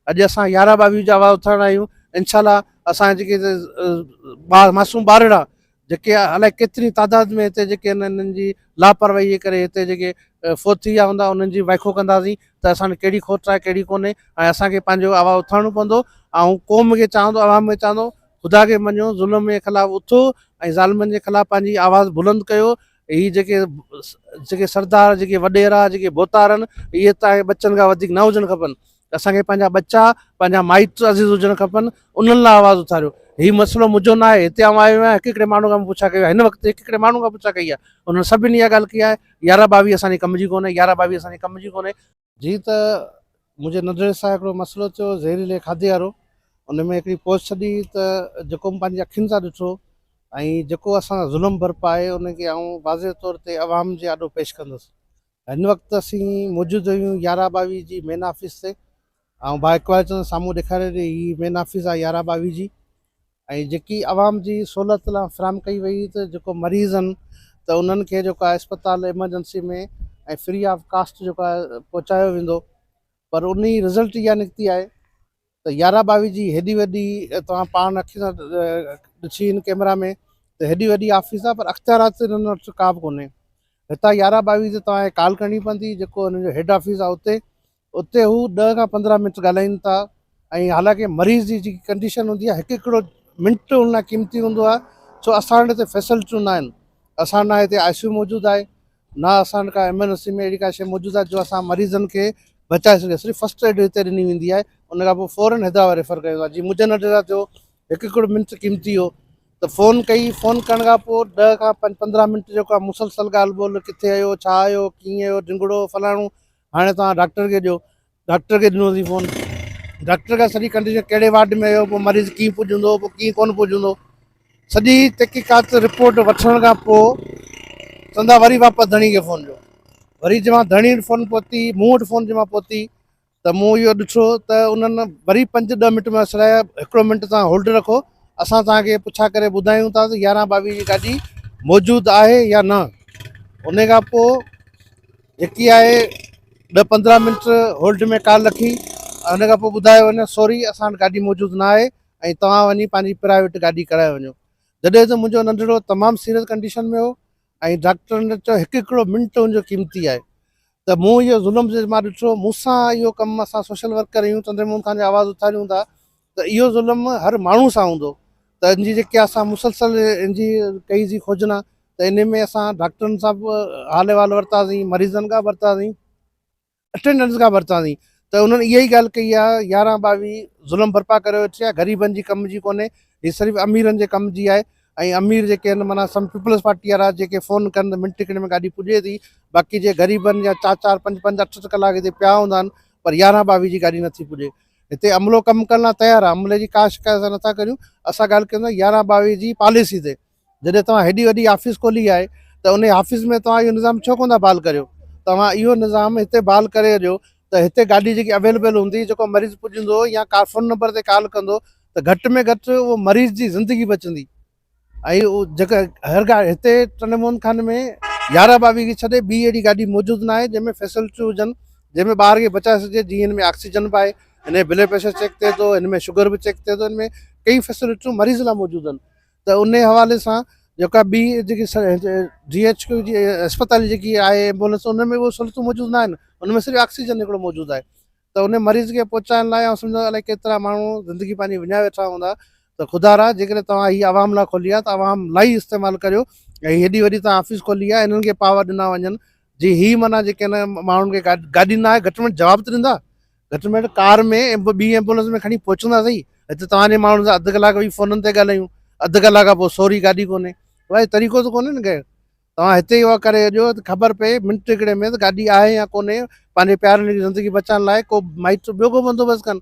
اڄ اسان يارهن ٻاويهه جا وار اٿارڻا آهيون انشاء الله اسان جا جيڪي ٻار معصوم ٻارڙا جيڪي الائي ڪيتري تعداد ۾ هتي جيڪي آهن انهن جي لاپرواهي جي ڪري هتي جيڪي فوت ٿي ويا هوندا انهن جي وائکو ڪنداسين ته اسان ۾ ڪهڙي کوٽ آهي ڪهڙي ڪونهي ۽ اسان کي پنهنجو آواز اٿارڻو پوندو آئون قوم کي چاهان ٿو عوام کي چاهان ٿو خدا کي مڃيو ظلم جي خلاف اٿو ۽ ظالمن جي خلاف پنهنجي آواز بلند ڪيو اهي جيڪي جيڪي سردار جيڪي وڏيرا جيڪي بوتارن اهي ته آهي ٻچن کان وڌيڪ نه هجڻ کپن اسان کي پنهنجا ٻچا پنهنجا مائٽ عزيز هجڻ کپن انهن لاء آواز اٿاريو هي مسئلو منهنجو نه آهي هتي آئون آيو آهيان هڪ هڪڙي ماڻهو کان پڇا ڪيو هن وقت هڪ هڪڙي ماڻهو کان پڇا ڪئي آهي انهن سڀني اها ڳالهه ڪئي آهي يارهن ٻاويهه اسان جي ڪم جي ڪونهي يارهن ٻاويهه اسان جي ڪم جي ڪونهي جي ته منهنجي نظري سان هڪڙو مسئلو ٿيو زهريلي کاڌي وارو ان ۾ هڪڙي پوسٽ ڇڏي ته جيڪو مون پنهنجي اکين سان ڏٺو ۽ جيڪو اسان سان ظلم برپا آهي ان کي آئون واضح طور تي عوام جي آڏو پيش ڪندس هن وقت اسين موجود آهيون يارهن ٻاويهه جي مين آفيس تي آئون ڀاء اقبال چند سامهون ڏيکاري ڏي هي مين آفيس آهي يارهن ٻاويهه جي ۽ جيڪي عوام جي سھولت لا فراھم ڪئي وئي ھئي ته جيڪو مريض ھن ته انھن کي جيڪو آھي اسپتال ايمرجنسي ۾ ۽ فري آف ڪاسٽ جيڪو آھي پھچايو ويندو پر ان جي رزلٽ اھا نڪتي آھي ته يارھن ٻاويھن جي ھيڏي وڏي توھان پاڻ اکين سان ڏسي ان ڪيمرا ۾ ته ھيڏي وڏي آفيس آھي پر اختيارات انھن وٽ ڪا به ڪونھي ھتان يارھن ٻاويھن تي توھان کي ڪال ڪرڻي پوندي جيڪو انھن جو ھيڊ آفيس آھي اتي اتي هو ڏهه کان پندرهن منٽ ڳالهائين ٿا ۽ حالانڪه مريض جي جيڪي ڪنڊيشن هوندي آهي هڪ هڪڙو منٽ ان لاء قيمتي هوندو آهي سو اسان وٽ هتي فيسلٽيون ناهن اسان نه هتي آء سي يو موجود آهي نه اسان وٽ ڪا ايمرجنسي ۾ اهڙي ڪا شيء موجود آهي جو اسان مريضن کي بچائي سگهي صرف فسٽ ايڊ هتي ڏني ويندي آهي ان کان پوء فورن حيدرآباد ريفر ڪيو ويندو آهي جيئن مجھن اڍ رات جو هڪ هڪڙو منٽ قيمتي هو ته فون ڪئي فون ڪرڻ کان پوء ڏهه کان پنج پندرهن منٽ جو ڪا مسلسل ڳالهه ٻولهه ڪٿي آيو ڇا آيو ڪيئن آيو ڊنگڙو فلاڻو هاڻي توهان ڊاڪٽر کي ڏيو. ڊاڪٽر کي ڏنو اٿئي فون. ڊاڪٽر کي سڄي ڪنڊيشن ڪهڙي وارڊ ۾ هيو، پوء مريض ڪيئن پڄ هوندو، پوء ڪيئن ڪونه پڄ هوندو. سڄي تحقيقات رپورٽ وٺڻ کان پوء سندا وري واپس ڌڻي کي فون ڏيو. وري جي مهان ڌڻي وٽ فون پهتي، مون وٽ فون جي مهان پهتي ته مون اهو ڏٺو ته انهن وري پنج ڏهه منٽ ۾ سڏايا، هڪڙو منٽ توهان هولڊ رکو، اسان توهان کي پڇا ڪري ٻڌايون ٿا ته يارهن ٻاويهه جي گاڏي موجود آهي يا نه. انهي کان پوء. جيڪي آهي ڏهه پندرهن منٽ هولڊ ۾ ڪال رکي ان کان پوء ٻڌايو وڃي سوري اسان وٽ گاڏي موجود نه آهي ۽ توهان وڃي پنهنجي پرائيويٽ گاڏي ڪرائي وڃو جڏهن ته منهنجو ننڍڙو تمام سيريس ڪنڊيشن ۾ هو ۽ ڊاڪٽر ان چيو هڪ هڪڙو منٽ ان جو قيمتي آهي ته مون اهو ظلم جي مان ڏٺو مون سان اهو ڪم اسان سوشل ورڪر آهيون چندرموهن خان جا آواز اٿاريون ٿا ته اهو ظلم هر ماڻهو سان هوندو ته ان جي جيڪي اسان مسلسل ان جي ڪئي سين کوجنا ته انهي ۾ اسان ڊاڪٽرن سان به حال احوال ورتا سين مريضن کان به ورتا سين اٽينڊنس کان به ورتا سين ته انهن اها ئي ڳالهه ڪئي آهي يارهن ٻاويهه ظلم ڀرپا ڪري ويٺي آهي غريبن جي ڪم جي ڪونهي هي صرف اميرن جي ڪم جي آهي ۽ امير جيڪي آهن معنيٰ سم پيپلز پارٽي وارا جيڪي فون ڪن ته منٽ کن ۾ گاڏي پڄي ٿي باقي جي غريبن جا چار چار پنج پنج اٺ اٺ ڪلاڪ هتي پيا هوندا آهن پر يارهن ٻاويهه جي گاڏي نٿي پڄي هتي عملو ڪم ڪرڻ لاء تيار آهي عملي جي ڪا شڪايت اسان نٿا ڪريون اسان ڳالهه ڪيون ٿا يارهن ٻاويهه جي پاليسي تي جڏهن توهان هيڏي وڏي آفيس کولي آهي ته ان آفيس ۾ توهان اهو نظام ڇو ڪو نه بحال ڪريو توهان اهو نظام هتي بحال ڪري ڏيو ته هتي گاڏي جيڪي اويليبل هوندي جيڪو مريض پڄندو يا ڪا فون نمبر تي ڪال ڪندو ته گهٽ ۾ گهٽ اهو مريض جي زندگي بچندي ۽ جيڪا هر گاڏي هتي ٽنڊي موهن خان ۾ يارهن ٻاويهه کي ڇڏي ٻي اهڙي گاڏي موجود ناهي جنهن ۾ فيسلٽيون هجن جنهن ۾ ٻار کي بچائي سگهجي جيئن هن ۾ آڪسيجن به آهي هن ۾ بلڊ پريشر چيڪ ٿئي ٿو هن ۾ شگر به چيڪ ٿئي ٿو هن ۾ ڪئي فيسلٽيون مريض لاء موجود آهن ته ان حوالي سان جيڪا ٻي جيڪي جي ايچ ڪيو جي اسپتال جيڪي آهي ايمبولنس ان ۾ اهو سھولتون موجود ناهن ان ۾ صرف آڪسيجن هڪڙو موجود آهي ته ان مريض کي پهچائڻ لاء آئون سمجهان ٿو الائي ڪيترا ماڻهو زندگي پنهنجي وڃائي ويٺا هوندا ته خدا را جيڪڏهن توهان هي عوام لاء کولي آهي ته عوام لائي هي استعمال ڪريو ۽ هيڏي وڏي توهان آفيس کولي آهي هنن کي پاور ڏنا وڃن جي هي معنيٰ جيڪي هن ماڻهن کي گاڏي نه آهي گهٽ ۾ گهٽ جواب ته ڏيندا گهٽ ۾ گهٽ ڪار ۾ ٻي ايمبولنس ۾ کڻي پهچندا صحيح هتي توهان جي ماڻهن سان اڌ ڪلاڪ ويهي فونن تي ڳالهايون اڌ ڪلاڪ کان پوء سوري گاڏي ڪونهي بھاء طريقو ته ڪونهي نه ڪنهن توهان هتي يوگا ڪري اچو ته خبر پئي منٽ هڪڙي ۾ ته گاڏي آهي يا ڪونهي پنهنجي پيارن جي زندگي بچائڻ لاء ڪو مائٽ ٻيو ڪو بندوبست ڪن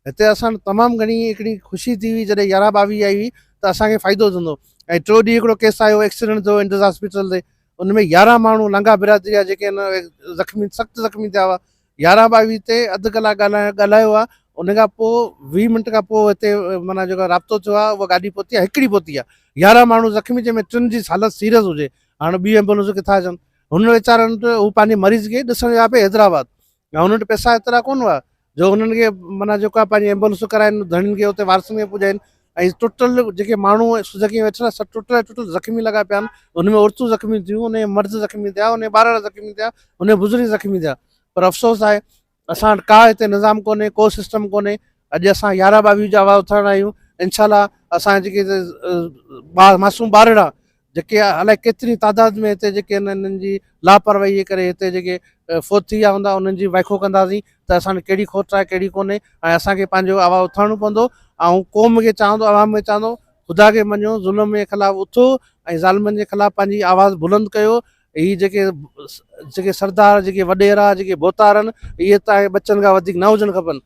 هتي اسان تمام گهڻي هڪڙي خوشي ٿي هئي جڏهن يارهن ٻاويهه آئي هئي ته اسانکي فائدو ٿيندو ۽ ٽيو ڏينهن هڪڙو ڪيس آيو ايڪسيڊنٽ ٿيو انڊس هاسپيٽل تي ان ۾ يارهن ماڻهو لنگاهه برادري جا جيڪي زخمي سخت زخمي ٿيا هئا يارهن ٻاويهه تي اڌ ڪلاڪ ڳالهائڻ ڳالهايو آهي ان کان پوء ويهه منٽ کان پوء هتي معنيٰ جيڪو رابطو ٿيو آهي اها گاڏي پهتي آهي هڪڙي پهتي آهي يارهن ماڻهو زخمي جنهن ۾ ٽن جي حالت سيريس هجي هاڻ ٻيون ايمبولنسون ڪٿان اچن هن ويچارن وٽ هو پنهنجي مريض کي ڏسڻ ويا پئي حيدرآباد ۽ هن وٽ پئسا ايترا ڪونه هئا جو هنن کي معنيٰ جيڪو آهي پنهنجي ايمبولنسون ڪرائين ڌڻين کي اتي وارثن کي پڄائين ۽ ٽٽل جيڪي ماڻهو سڌڪي ويٺل سڀ ٽٽل ٽٽل زخمي لڳا پيا آهن ان ۾ عورتون زخمي ٿيون ان جا مرد زخمي ٿيا ان جا ٻارڙا زخمي ٿيا ان جا بزرگ زخمي ٿيا پر افسوس آهي اسان وٽ ڪا هتي نظام ڪونهي ڪو سسٽم ڪونهي اڄ اسان يارهن ٻاويهه جا آواز اٿارڻ آيون انشاء الله اسان جيڪي معصوم ٻارڙا جيڪي الائي ڪيتري تعداد ۾ هتي جيڪي آهن انهن جي لاپرواهي جي ڪري هتي جيڪي فوت ٿي ويا هوندا انهن جي ويکو ڪنداسين ته اسان ڏي ڪهڙي کوٽ آهي ڪهڙي ڪونهي ۽ اسان کي پنهنجو آواز اٿارڻو پوندو آئون قوم کي چاهان ٿو عوام کي چاهان ٿو خدا کي مڃيو ظلم جي خلاف اٿو ۽ ظالمن جي خلاف پنهنجي آواز بلند ڪيو هي جيڪي جيڪي سردار جيڪي وڏيرا جيڪي ڀوتارن اهي تانجي ٻچن کان وڌيڪ نه هجڻ کپن